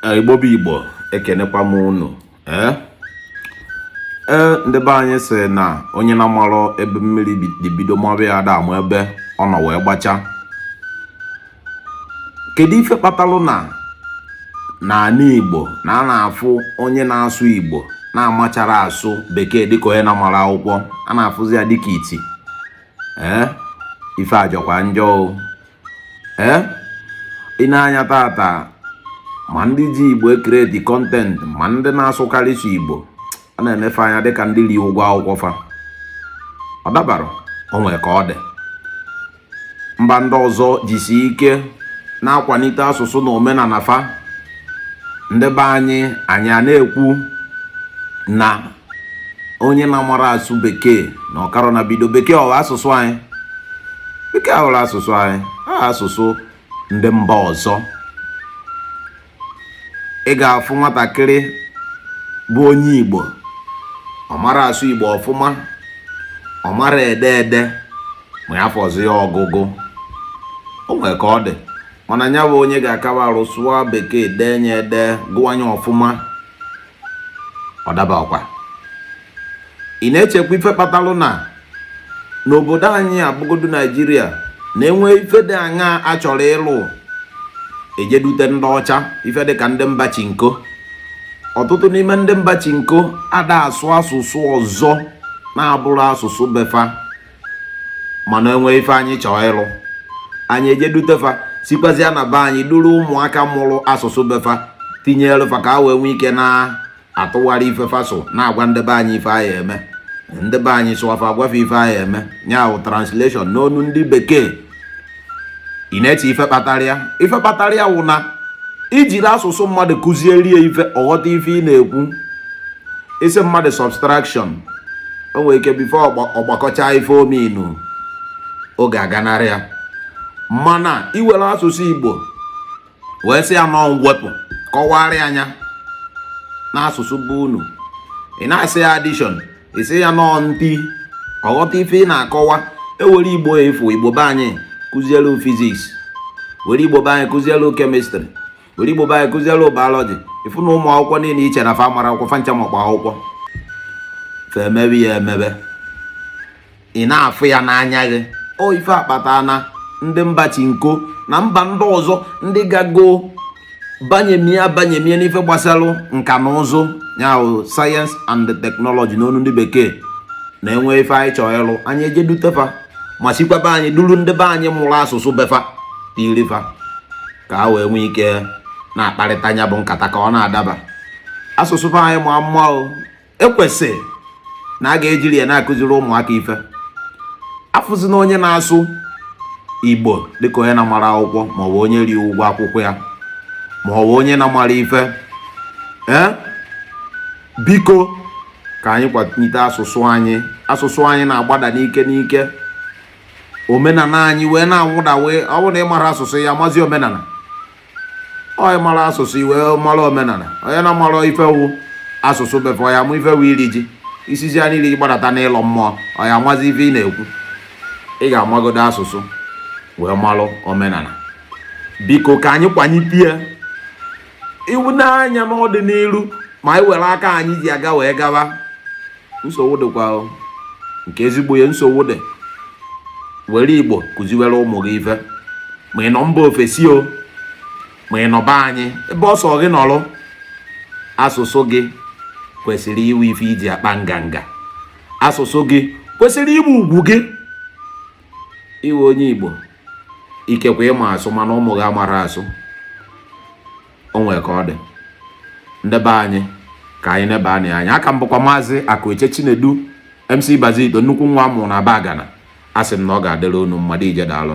Eh, igbo bụ igbo ekenekwa m unu ee eh? eh, ndị be anyị sị na onye na-amarọ ebe mmiri bido maba ya ada ama ebe ọ nọ wee gbacha kedu ife kpatalụ na n'ala igbo na a na-afụ onye na-asụ igbo na-amacharọ asụ bekee dịka onye na-amarọ akwụkwọ a na-afụzi ya dịka iti ee ife ajọkwa njọ ee i nee anya taata ma ndị ji igbo ekreti kọntentị ma ndị na-asụkarị sọ igbo a na-ene fa anya dịka ndị ri ụgwọ akwụkwọ fa ọ dabarọ o nwere ka ọ dị mba ndị ọzọ jisi ike na-akwalite asụsụ na omenala fa ndị be anyị anyị a na-ekwu na onye na-amarọ asụ bekee na ọkara na bido bekee ọ wụ asụsụ anyị bekee awụrọ asụsụ anyị ọ wụ asụsụ ndị mba ọzọ ị ga-afụ nwatakịrị bụ onye igbo ọ marọ asụ igbo ọfụma ọ marọ ede ede ma ya fọzi ya ọgụgụ o nwere ka ọ dị mana nya bụ onye ga-akaba arụ sụọ bekee dee nya ede gụa nya ọfụma ọ daba ọkwa ị na-echekwa ife kpatalụ na n'obodo anyị a bụgodu naijiria na enwee ife dị aṅa a chọrọ ịlụ e je dute ndị ọcha ife dịka ndị mba chinko ọtụtụ n'ime ndị mba chinko ada asụ asụsụ ọzọ na-abụrọ asụsụ be fa mana enwee ife anyị chọọ ịlụ anyị eje dute fa sikwazịa na be anyị duru ụmụaka mụrụ asụsụ be fa tinyere fa ka a wee nwee ike na-atụgharị ife fa sụ na-agwa ndị be anyị ife a ya-eme ndị be anyị sụa fa agwa fa ife a ya-eme nya wụ translation n'ọnụ ndị bekee ị na-eche ife kpatara ya ife kpatara ya wụ na i jiri asụsụ mmadụ kụziere ya ife ọ ghọta ife ị na-ekwu ị sị mmadụ subtraction o nwere ike before ọ gbakọchaa ife ọ mean oge aganarị ya mana i were asụsụ igbo wee sị ya n'ọọ mwepụ kọwara ya nya n'asụsụ be unu ị na-asị ya addition ị sị ya n'ọọ nti ọ ghọta ife ị na-akọwa e were igbo ị fụ igbo be anyị kụzielu physics were igbo be anyị kụzielu chemistry were igbo be anyị kụzielu biology ị fụ na ụmụ akwụkwọ niile i che na fa amarọ akwụkwọ fa ncha makpọ akwụkwọ fa emebe ya emebe ị na-afụ ya n'anya gị ọ ife akpata na ndị mba chinko na mba ndị ọzọ ndị gago banyemie abanyemie n'ife gbasara nka na ụzụ nya bụ science and technology n'onu ndị bekee na e nwee ife anyị chọọ ịlụ anyị eje dute fa ma sikwa be anyị duru ndị be anyị mụrụ asụsụ be fa tiiri fa ka ha wee nwee ike na-akparịta nya bụ nkata ka ọ na-adaba asụsụ be anyị ma mma o e kwesị na a ga-ejiri ya na-akụziri ụmụaka ife a fụzi na onye na-asụ igbo dịka onye na-amara akwụkwọ maọbụ onye ri ụgwọ akwụkwọ ya maọbụ onye na-amara ife ee biko ka anyị kwalite asụsụ anyị asụsụ anyị na-agbada n'ike n'ike omenala anyị wee na-anwụda wee ọ bụrụ na ị mara asụsụ ị ya-amazi omenala ọ ị mara asụsụ i wee mara omenala onye na-amara ife wụ asụsụ be fa ọ ya-ama ife wụ iri ji i sizi n'iri gbadata n'ịlọ mmụọ ọ ya-amazi ife ị na-ekwu ị ga-amagodo asụsụ wee malụ omenala biko ka anyị kwanyipie iwu n'anya n'ọdịnihu ma anyị were aka anyị ji aga wee gawa nsogbu dịkwa o. nke ezigbo ya nsogbu dị were igbo kụziwere ụmụ gị ife ma ị nọ mba ofesi o ma ị nọ be anyị ebe ọ sọ gị nọrọ asụsụ gị kwesịrị ịwụ ife i ji akpa nganga asụsụ gị kwesịrị ịbụ ugwu gị ị wụ onye igbo ikekwe ị ma asụ mana ụmụ gị amara asụ o nwere ka ọ dị ndị be anyị ka anyị nebanye anya aka m bụkwa maazị Akụeche Chinedu MC Bazito nnukwu nwa a mụrụ na Abagana asị m na ọ ga-adịrị unu mmadụ ije daalụ